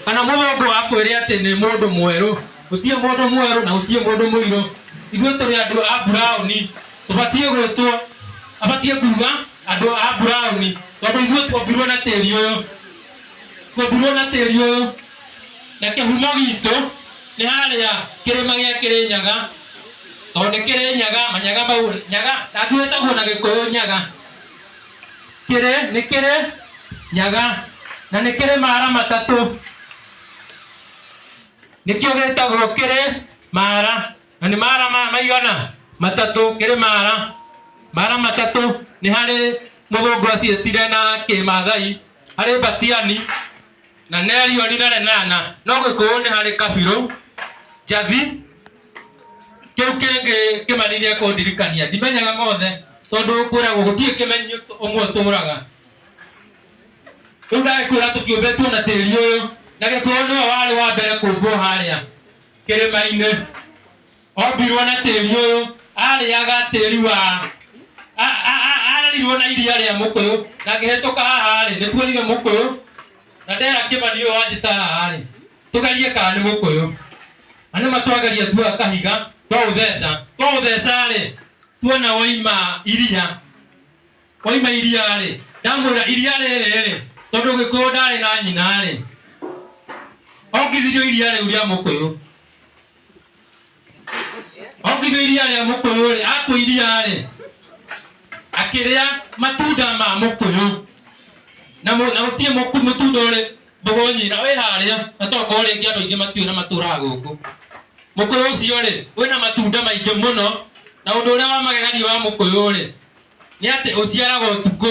kana mũthũngũ akwĩre atĩ nĩ mũndũ mwerũ gũtirĩ mũndũ mwerũ na gũtirĩ mũndũ mũirũ ithuĩ tũrĩ andũ a buraoni tũbatiĩ gwĩtwo abatiĩ kuga andũ a buraoni tondũ ithuĩ tuombirwo na tĩri ũyũ tuombirwo na tĩri ũyũ na kĩhumo gitũ nĩ harĩa kĩrĩma gĩa kĩrĩnyaga tondũ nĩ kĩrĩnyaga manyaga mau nyaga na angĩ wĩtagwo na gĩkũyũ nyaga kĩrĩ nĩ kĩrĩ nyaga na nĩ kĩrĩ mara matatũ nĩkĩo gĩtagwo kĩrĩ mara na nĩ mara maya maigana matatũ kĩrĩ mara mara matatũ nĩ harĩ mũthũngũ aciĩtire na kĩmathai harĩ mbatiani na nerio rinare nana no gĩkũũ nĩ harĩ kabirũ njathi kĩu kĩngĩ kĩmanirie kũndirikania ndimenyaga mothe tondũ kwĩragwo gũtirĩ kĩmenyi ũmwe ũtũraga rĩu ndagĩkwĩra tũkĩũmbĩtwo na tĩri ũyũ na gĩkũũ nĩwe warĩ wa mbere kũmbwo harĩa kĩrĩma-inĩ ombirwo na tĩri ũyũ arĩaga tĩri wa a- a- a- ararirwo na iria rĩa mũkũyũ na ngĩhĩtũka haha-rĩ nĩkuonire mũkũyũ na ndera kĩmani ũyũ wanjĩta haha-rĩ tũgerie kana nĩ mũkũyũ na nĩ matwageria tuoya kahiga twaũtheca twaũtheca-rĩ tuona waima iria waima iria-rĩ ndamwĩra iria rĩrĩ-rĩ tondũ gĩkũyũ ndarĩ na nyina-rĩ ongithirio iria rĩu rĩa mũkũyũ ongithio iria rĩa mũkũyũ rĩ akũ iria rĩ akĩrĩa matunda ma mũkũyũ na mũ- na gũtirĩ mũku mũtunda ũrĩ mbogo nyina wĩ harĩa na tokorwo rĩngĩ andũ aingĩ matiũĩ na matũraga gũkũ mũkũyũ ũcio rĩ wĩna matunda maingĩ mũno na ũndũ ũrĩa wa magegania wa mũkũyũ rĩ nĩ atĩ ũciaraga ũtukũ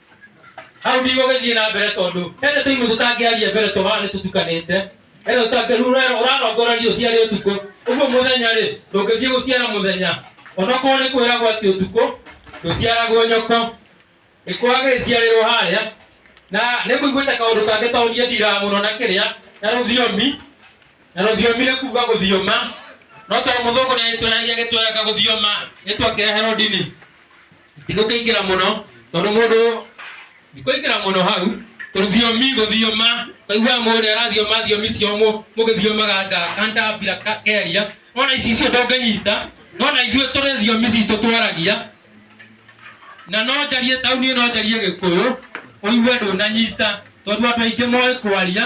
hau ndigũgĩthiĩ na mbere tondũ hena tũimũ tũtangĩaria mbere tũhana nĩ tũtukanĩte hena tũtangĩru ũrarongoreria ũciarĩ ũtukũ ũguo mũthenya rĩ ndũngĩthiĩ gũciara mũthenya onokorwo nĩ kwĩragwo atĩ ũtukũ ndũciaragwo nyoko ĩkwaga gĩciarĩrwo harĩa na nĩ kũiguĩte kaũndũ kangĩ tondũ niĩ ndiraga mũno na kĩrĩa na rũthiomi na rũthiomi nĩ kuga gũthioma no tondũ mũthũngũ nĩ agĩtũragia gĩtweraga gũthioma nĩ twakĩreherwo ndini ndigũkĩingĩra mũno tondũ mũndũ ndikũingĩra mũno hau tondũ thiomi gũthioma kaiguaga mũndũ ũrĩa arathioma thiomi cia mũ- mũgĩthiomaga nga kandambira ka- keria nona ici icio ndũngĩnyita nona ithuĩ tũrĩ thiomi citũ twaragia na no njarie tauni ĩno njarie gĩkũyũ ũigue ndũnanyita tondũ andũ aingĩ moĩ kwaria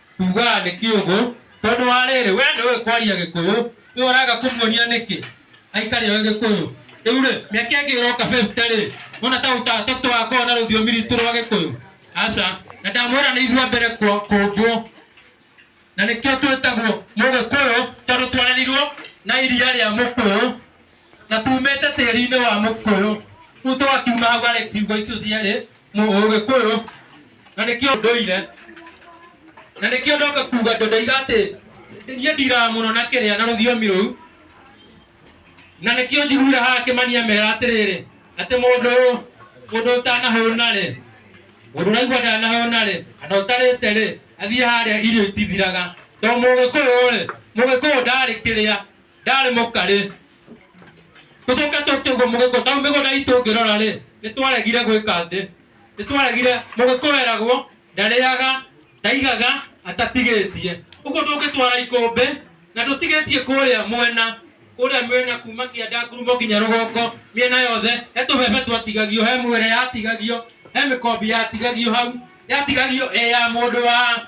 Tugaga nĩ kĩũgũ tondũ wa rĩrĩ we nĩ ũĩ kwaria gĩkũyũ we ũraga kũmuonia nĩkĩ aikare oĩ gĩkũyũ rĩu rĩ mĩaka ĩngĩ ĩroka 50 rĩ wona ta ũta- ta tũgakorwo na rũthiomi ritũ rwa gĩkũyũ aca na ndamwĩra nĩ ithuĩ a mbere kwa- kũmbwo na nĩkĩo twĩtagwo mũgĩkũyũ tondũ twarerirwo na iria rĩa mũkũyũ na tumĩte tĩri-inĩ wa mũkũyũ rĩu twakiuma hau arĩ ciugo icio cierĩ mũgĩkũyũ na nĩkĩo ndũire na nĩkĩo ndoka kuga ndoiga atĩ niĩ ndiraga mũno na kĩrĩa na rũthiomi rũu na nĩkĩo njiguire haha kĩmania mera atĩrĩrĩ atĩ mũndũ ũyũ mũndũ ũtanahũna rĩ mũndũ ũraigua ndanahũna rĩ kana ũtarĩte rĩ athiĩ harĩa irio itithiraga to mũgĩkũyũ rĩ mũgĩkũyũ ndarĩ kĩrĩa ndarĩ mũkarĩ tũcoke tũke ũguo mũgĩkũ tau mĩgũnda itũ ngĩrora rĩ nĩ twaregire gwĩka atĩ nĩ twaregire mũgĩkũ eragwo ndarĩaga ndaigaga atatigĩtie ũguo ndũngĩtwara ikũmbĩ na ndũtigĩtie kũrĩa mwena kũrĩa mwena kuma kĩanda ngurumo nginya rũgongo mĩena yothe he tũbebe twatigagio he mwere yatigagio he mĩkombi yatigagio hau yatigagio ĩ ya mũndũ wa